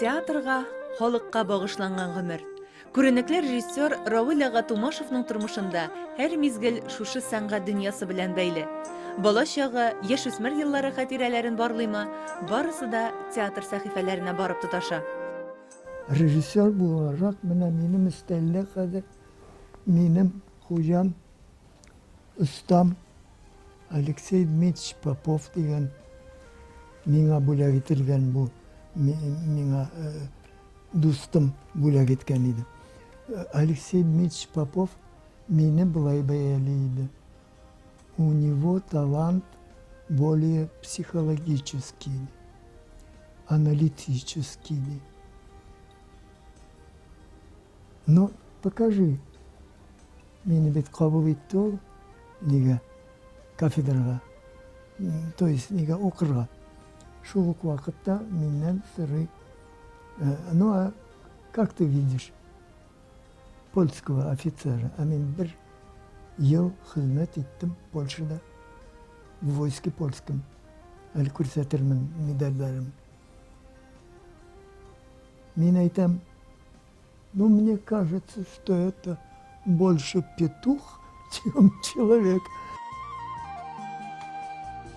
Театрга, халыкка багышланган гомер. Күренекле режиссер Равил ага Тумашевның тормышында һәр мизгел шушы сәнгать дөньясы белән бәйле. Бала чагы, яшь үсмер еллары хатирәләрен барлыйма, барысы да театр сәхифәләренә барып тоташа. Режиссер буларак, менә минем өстәлдә хәзер минем хуҗам остам Алексей Дмитриевич Попов дигән миңа бүләк ителгән бу миңа э, дустым бүләк иткән иде. Э, Алексей Дмитриевич Попов мине былай бәяли иде. У него талант более психологический, аналитический. Но покажи Мине бит кабул итте ул. Нигә? Кафедрага. То есть, нигә укырга? Шул ук вакытта миннән сорый. Э, ну, а как ты видишь польского офицера? А мин бер ел хезмәт иттем Польшада. В войске польском. Әле күрсәтермен медальләрем. Мин әйтәм, Ну мне кажется, что это больше петух, чем человек.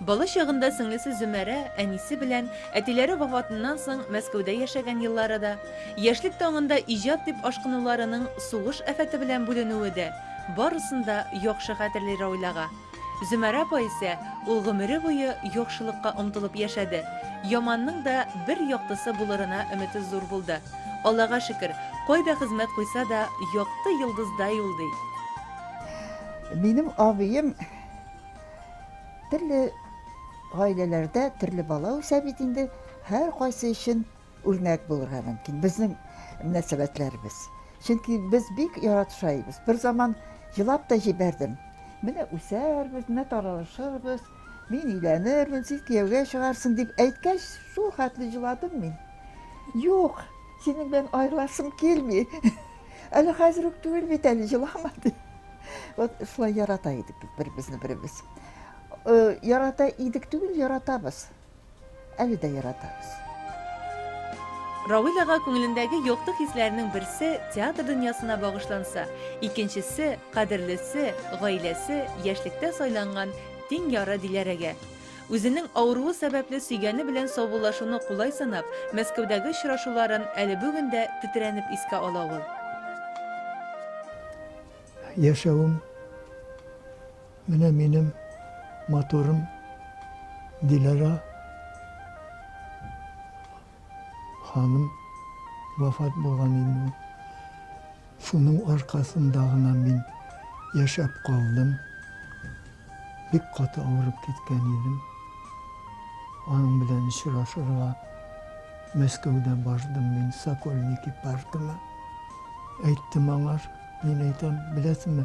Бала чагында сеңлесе Зөмәрә әнисе белән әтиләре вафатыннан соң Мәскәүдә яшәгән еллары да, яшьлек таңында иҗат дип ашкынуларының сугыш афәте белән бүленүе дә барысын да яхшы хәтерли Рауләга. Зөмәрә апа исә ул гомере буе яхшылыкка омтылып яшәде. Яманның да бер яктысы булырына өмете зур булды. Аллага шөкер, кайда хезмәт куйса да, якты йолдыздай ул, ди. Минем абыем төрле гаиләләрдә төрле бала үсә бит инде, һәркайсы өчен. Үрнәк булырга мөмкин безнең мөнәсәбәтләребез. Чөнки без бик яратышайбыз. Бер заман елап та җибәрдем. Менә үсәрбез, менә таралышырбыз, мин өйләнермен, син кияүгә чыгарсың дип әйткәч, шул хәтле җыладым мин. Юк, синең белән аерыласым килми. Әле хәзер үк түгел бит әле җылама ди. Вот шулай ярата идек бер-безне беребез. Ярата идек түгел, яратабыз. Әле дә яратабыз. Равил ага күңелендәге якты хисләрнең берсе театр дөньясына багышланса, икенчесе, кадерлесе, гаиләсе, яшьлектә сайланган тиң яры Диләрәгә. Үзенең авыруы сәбәпле сөйгәне белән саубуллашуны кулай санап, Мәскәүдәге очрашуларын әле бүген дә тетрәнеп искә ала ул. Яшәвем. Менә минем матурым Диләрә ханым вафат булган инде. Шуның аркасында гына мин яшәп калдым. Бик каты авырып киткән идем. Аның белән очрашырга Мәскәүдә бардым мин Сокольники паркына. Әйттем аңар, мин әйтәм, беләсеңме,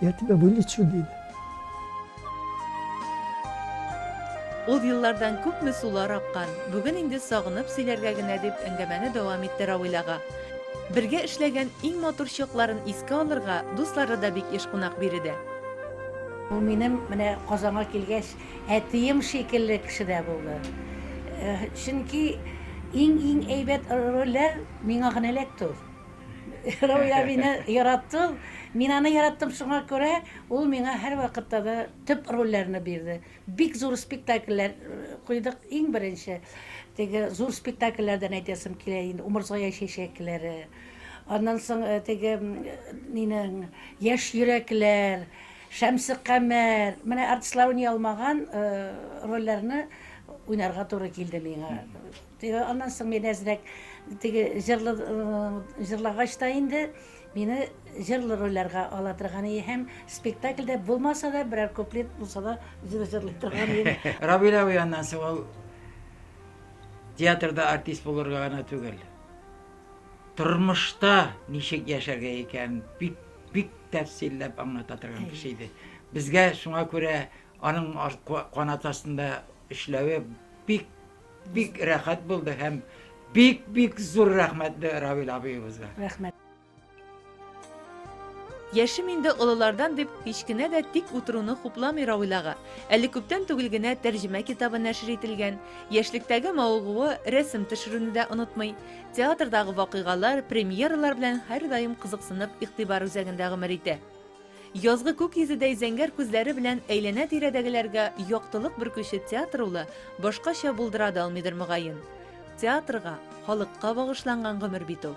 Я тебя вылечу, диде. Ул еллардан күпме сулар аккан, бүген инде сагынып сөйләргә генә дип әңгәмәне дәвам итте Равил ага. Бергә эшләгән иң матур чакларын искә алырга дуслары да бик еш кунак биредә. Ул минем менә Казанга килгәч әтием шикелле кеше дә булды. Чөнки иң-иң әйбәт рольләр миңа генә эләкте ул. Рауя мине яратты ул. Мин аны яраттым, шуңа күрә ул миңа һәрвакытта да төп рольләрне бирде. Бик зур спектакльләр куйдык. Иң беренче теге зур спектакльләрдән әйтәсем килә инде, Умырзая чәчәкләре. Аннан соң э, теге нинең Яшь йөрәкләр, Шәмсе Камәр. Менә артистлар уйный алмаган э, рольләрне уйнарга туры килде миңа. Теге аннан соң мин әзрәк теге җырлы җырлагач та инде мине җырлы рольләргә ала торган и һәм спектакльдә булмаса да берәр куплет булса да җыр җырлый торган иде. Равил абый аннан соң ул театрда артист булырга гына түгел, тормышта ничек яшәргә икән бик бик тәфсилләп аңлата торган кеше иде. Безгә шуңа күрә аның канат астында эшләве бик Бик рәхәт булды һәм бик бик зур рәхмәт Равил абыебызга. Рәхмәт. Яшем инде олылардан дип һич кенә дә тик утыруны хупламый Равил ага. Әле күптән түгел генә тәрҗемә китабы нәшер ителгән. Яшьлектәге мавыгуы рәсем төшерүне дә онытмый. Театрдагы вакыйгалар, премьералар белән һәрдаим кызыксынып игътибар үзәгендә гомер итә. Язгы күк йөзедәй зәңгәр күзләре белән әйләнә-тирәдәгеләргә яктылык бөркүче театр улы башкача булдыра да алмыйдыр мөгаен. Театрга, халыкка багышланган гомер бит ул.